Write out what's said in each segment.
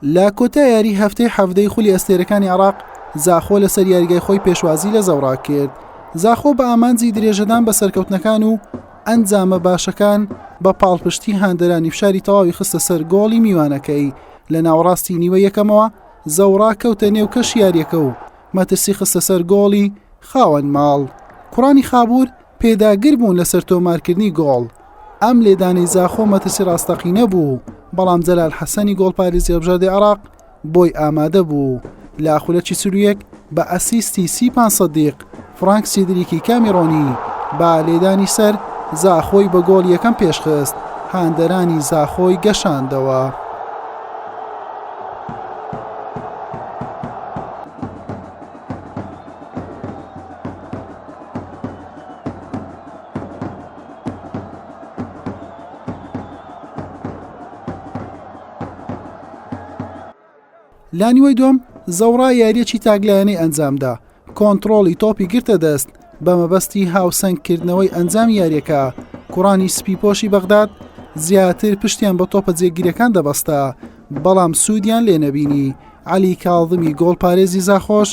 لە کۆتا یاری هەفتەی حەفتەی خولی ئەستێرەکانی عراق زاخۆ لەسەر یاریگای خۆی پێشوازی لە زەوڕاک کرد زاخۆ بە ئامانجی درێژەدان بە سەرکەوتنەکان و ئەنجامە باشەکان بە پاڵپشتی هاندەرانی فشاری تەواوی خستە سەر گۆڵی میوانەکەی لە ناوەڕاستی نیوە یەکەمەوە زەوڕا کەوتە نێو کەش یاریەکە و مەترسی خستە سەر گۆڵی خاوەن ماڵ کوڕانی خابور پێداگر بوون لەسەر تۆمارکردنی گۆڵ ئەم لێدانەی زاخۆ مەترسی ڕاستەقینە بوو، بەڵام جەلال حەسەنی گۆڵپارێزی هەڵبژاردەی عێراق بۆی ئامادە بوو. لە خولەکی چل و یەک بە ئەسیستی سیپان سەدیق، فرانک سیدریکی کامیرۆنی بە لێدانی سەر زاخۆی بە گۆڵی یەکەم پێشخست، هاندەرانی زاخۆی گەشاندەوە. لانیوەی دوم زەوڕا یاریەکی تاگلایەنەی ئەنجامدا کۆنتترۆڵی تۆپی گرتە دەست بە مەبەستی هاوسەنگکردنەوەی ئەنجام یاریەکە کوڕانی سپی پۆشی بەغداد زیاتر پشتیان بە تۆپە جێگیرەکان دەبەستە بەڵام سوودیان لێ نەبینی علی کاڵدمی گۆڵ پارێزی زاخۆش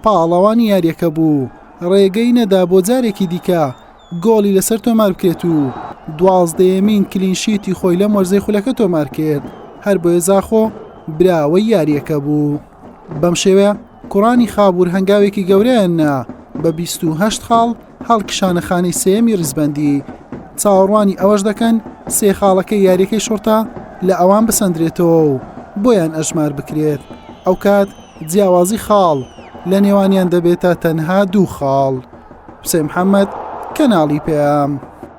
پاڵەوانی یاریەکە بوو ڕێگەی نەدا بۆ جارێکی دیکە گۆڵی لەسەر تۆماربکرێت و دوازدەیەمین کلینشیتی خۆی لەم وەرزەی خولەکە تۆمارکرد، هەربۆیە زاخۆ براوەی یارییەکە بوو. بەم شێوەیە کوڕانی خابوور هەنگاوێکی گەورەیان نا بە بیست و هەشت خاڵ هەڵکشانە خانەی سێیەمی ریزبەندی، چاوەڕوانی ئەوەش دەکەن سێ خاڵەکەی یارییەکەی شوڕتە لە ئەوان بسەندرێتەوە و بۆیان ئەژماربکرێت، ئەوکات. جیاوازی خاڵ لە نێوانیان دەبێتە تەنها دوو خاڵ. حوسێن محەمەد، کەناڵی پەیام.